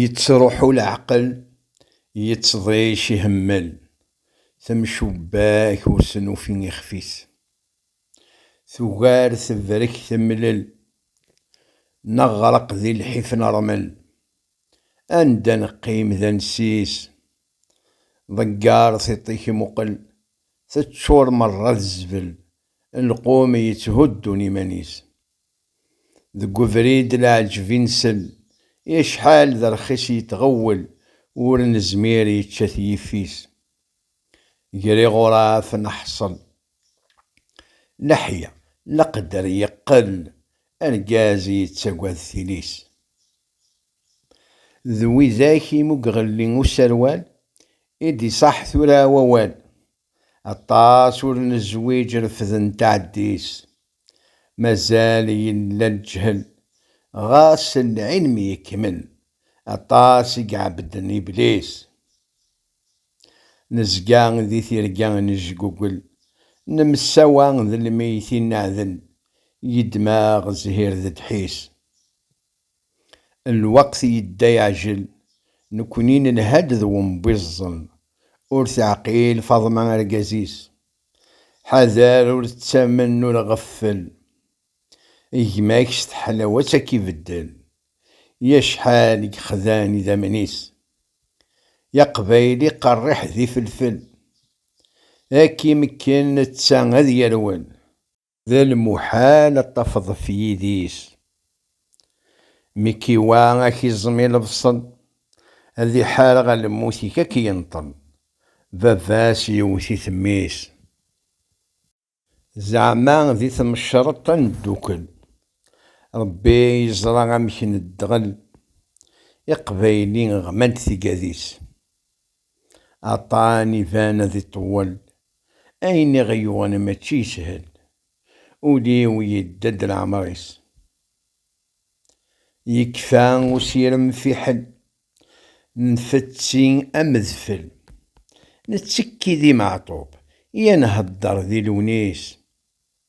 Yettruḥu leɛqel, yettḍic ihemmel, temcubbak ur s-nufi ixef-is. Tugar tebrek temlel, neɣreq di lḥif nermel. Anda neqqim d ansis, ḍegger tiṭ-ik muqel, teččur merra d zzbel, lqum yetthuddun iman-is. Deg ubrid leɛǧeb i nsel. I acḥal d rxis yettɣewwel ur nezmir yečča-t yifis. Ger iɣuraf neḥṣel leḥya leqder yeqqel argaz yettagad tili-s. D widak i mugɣelli userwal i d-iṣaḥ tura wawal. Aṭas ur nezwiǧ refden taɛeddi-s. Mazal yella leǧhel, ɣas lɛilm yekmel, aṭas i iɛebbden Iblis. Nezga di tirga nejgugel, nemsawa d lmeytin neɛdel, yeddem-aɣ zzhir d ddḥis. Lweqt yedda yeɛjel, nekni nelha-d d wembiẓẓel, ur teɛqil Faḍma argaz-is. Ḥader ur ttamen ur ɣeffel, gma-k s teḥlawat ad k-ibeddel, i acḥal i yexdan idammen-is, i aqbayli qerriḥ d ifelfel, ad k-imekken netta ad yerwel. D lmuḥal ad tafeḍ ɣef yidis mi k-iwa a k-iẓem i lebṣel, ad iḥareɣ a lmut-ik a k-yenṭel, baba-s yewwet-it mmi-s. Zeɛma di tmecreṭ a neddukel, Rebbi yeẓra amek neddɣel, Iqbayli ɣman-d tigad-is. Aṭṭan iban ad iṭewwel, ayen i ɣ-yuɣen mačči yeshel, ul-iw yedda-d leɛmer-is. Yekfa usirem fiḥel, nfetti am udfel, nettekki di Meɛtub, ya nhedder di Lewnis.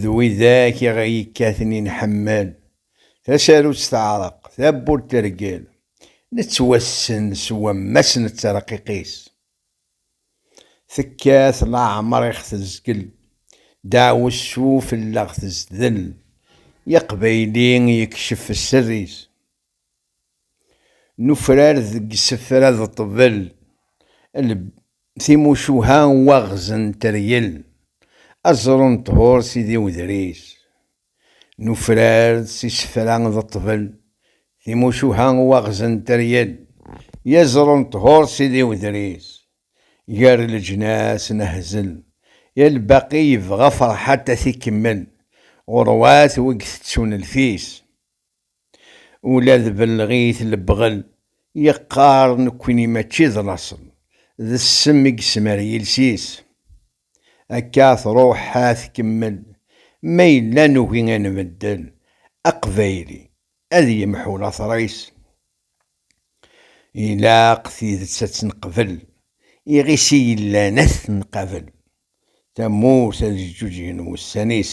d widak i ɣ-yekkaten i nḥemmel, tasarut teɛreq, tawwurt tergel, nettwassen s wammas n tterqiq-is. Tekkat leɛmer i ɣ-tezgel, deɛwessu fell-aɣ tezdel, i aqbayli yekcef sser-is. Nufrar deg isefra d ṭṭbel, lb, timucuha n waɣez n teryel, aẓru n ṭhur s idiwedris. Nufrar s isefra d ṭṭbel, timucuha n waɣez n teryel, yaẓru n ṭhur s idiwedris. Gar leǧnas nehzel, ya lbaqi yebɣa Ferḥat ad t-ikemmel, ɣurwat wi itettun lfis. Ula d belleɣit lebɣel, yeqqar nekkni mačči d laṣel, d ssem i yesmer yiles-is. Akka truḥ ad tkemmel, ma yella nugi ad nbeddel, aqbayli ad yemḥu later-is. Ilaq tidet ad tt-neqbel, iɣis i yellan ad t-nqabel, tamurt ad ǧǧuǧgen wussan-is.